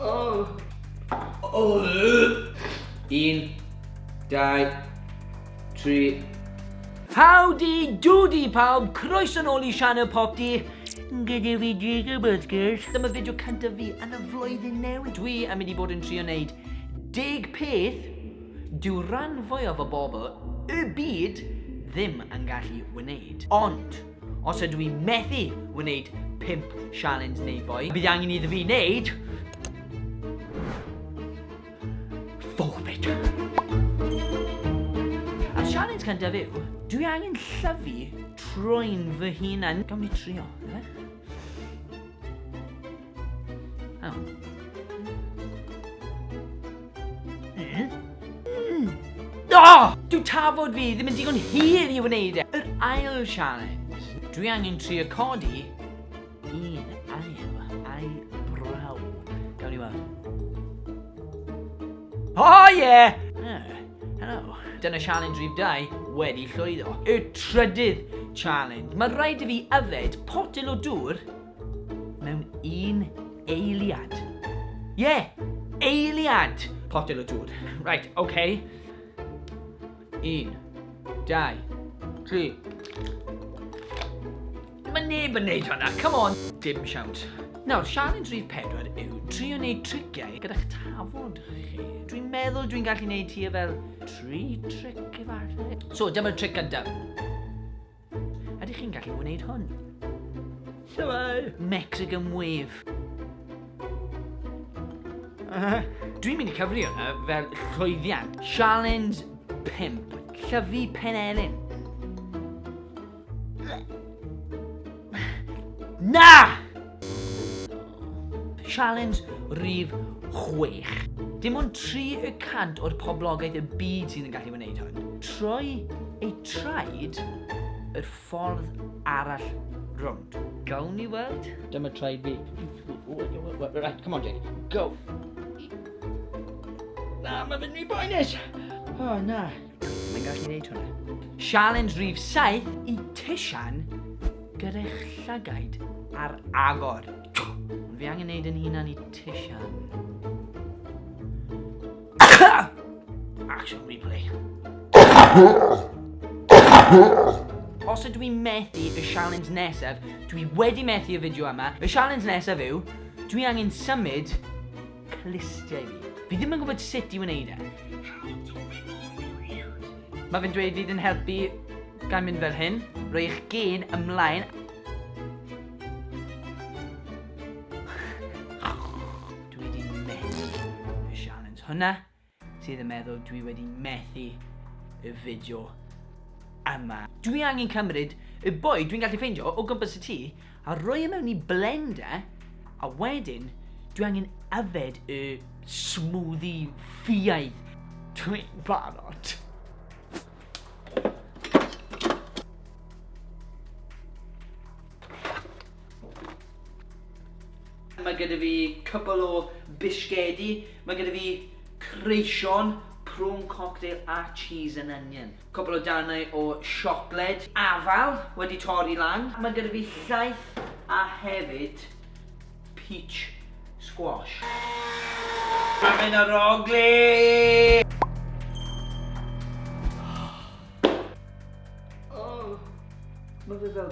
Oh. Oh. Un, dau, tri. Howdy doody pawb, croeso nôl i Sianel Popdi. Gyda fi Jacob Oscars. Dyma fideo cyntaf fi yn y flwyddyn newydd. Dwi am mynd i bod yn trio wneud deg peth dyw rhan fwyaf o bobl y byd ddim yn gallu wneud. Ond, Os ydw i methu wneud 5 sialens neu fwy, bydd angen iddo fi wneud... Forbid. A'r sialens cyntaf yw, dwi angen llyfu troi'n fy hunan. Gawn ni trio, efe? Oh. Mm. Mm. Oh! Dw tafod fi ddim yn digon hir i wneud e. Yr ail challenge. Dwi angen tri o codi un ail ail braw. Gawn ni weld. Oh yeah! Oh, hello. Dyna challenge rhif 2 wedi llwyddo. Y trydydd challenge. Mae rhaid i fi yfed potel o dŵr mewn un eiliad. Ie, yeah, eiliad! Potel o dŵr. Right, oce. Okay. Un, dau, tri. Mae neb yn neud hwnna, come on! Dim siawns. Nawr, siarad rhif pedwar yw trio wneud triciau gyda'ch tafod chi. Dwi'n meddwl dwi'n gallu wneud hi e fel tri tric efallai. So, dyma'r tric gyntaf. Ydych chi'n gallu wneud hwn? Shwmae! Mexican Wave. Dwi'n mynd i cyfri hwnna fel llwyddiant. Challenge 5. Llyfu pen elin. Na! Sialens rhif chwech. Dim ond tri y cant o'r poblogaeth y byd sydd yn gallu wneud hwn. Troi eu traed yr ffordd arall rownd. Gawn ni weld? Dyma traed fi. Right, come on Jake. Go! Na, mae fe'n rhy boenus! O, na. Mae'n gallu neud hwnna. Sialens rhif 7 i Tishan gyrech llygaid ar agor. Ond fi angen neud yn hunan i Tishan. Action replay. Os ydw i'n methu y sialens nesaf, dwi wedi methu y fideo yma. Y sialens nesaf yw, dwi angen symud clustiau fi. Fi ddim yn gwybod sut i wneud e. Mae fe'n dweud fydd yn helpu gan mynd fel hyn. Rwy eich gen ymlaen. Dwi wedi methu y sialens hwnna. sydd yn meddwl dwi wedi methu y fideo yma. Dwi angen cymryd y bwyd dwi'n gallu ffeindio o gwmpas y tŷ a roi e mewn i blender a wedyn dwi angen yfed y smoothie ffiaidd. Dwi'n barod. Mae gyda fi cwpl o bisgedi, mae gyda fi creision, prawn cocktail a cheese and onion. Cwpl o darnau o siocled, afal wedi torri lan. Mae gyda fi llaeth a hefyd peach squash. Mae'n mynd ar ogli! Mae fe fel...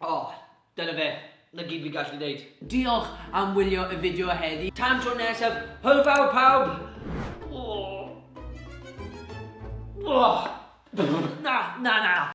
O, dyna fe. 'Na gyd fi'n gallu neud. Diolch am wylio y fideo heddi. Tan tro nesaf, hwyl fawr pawb! Na, na, na!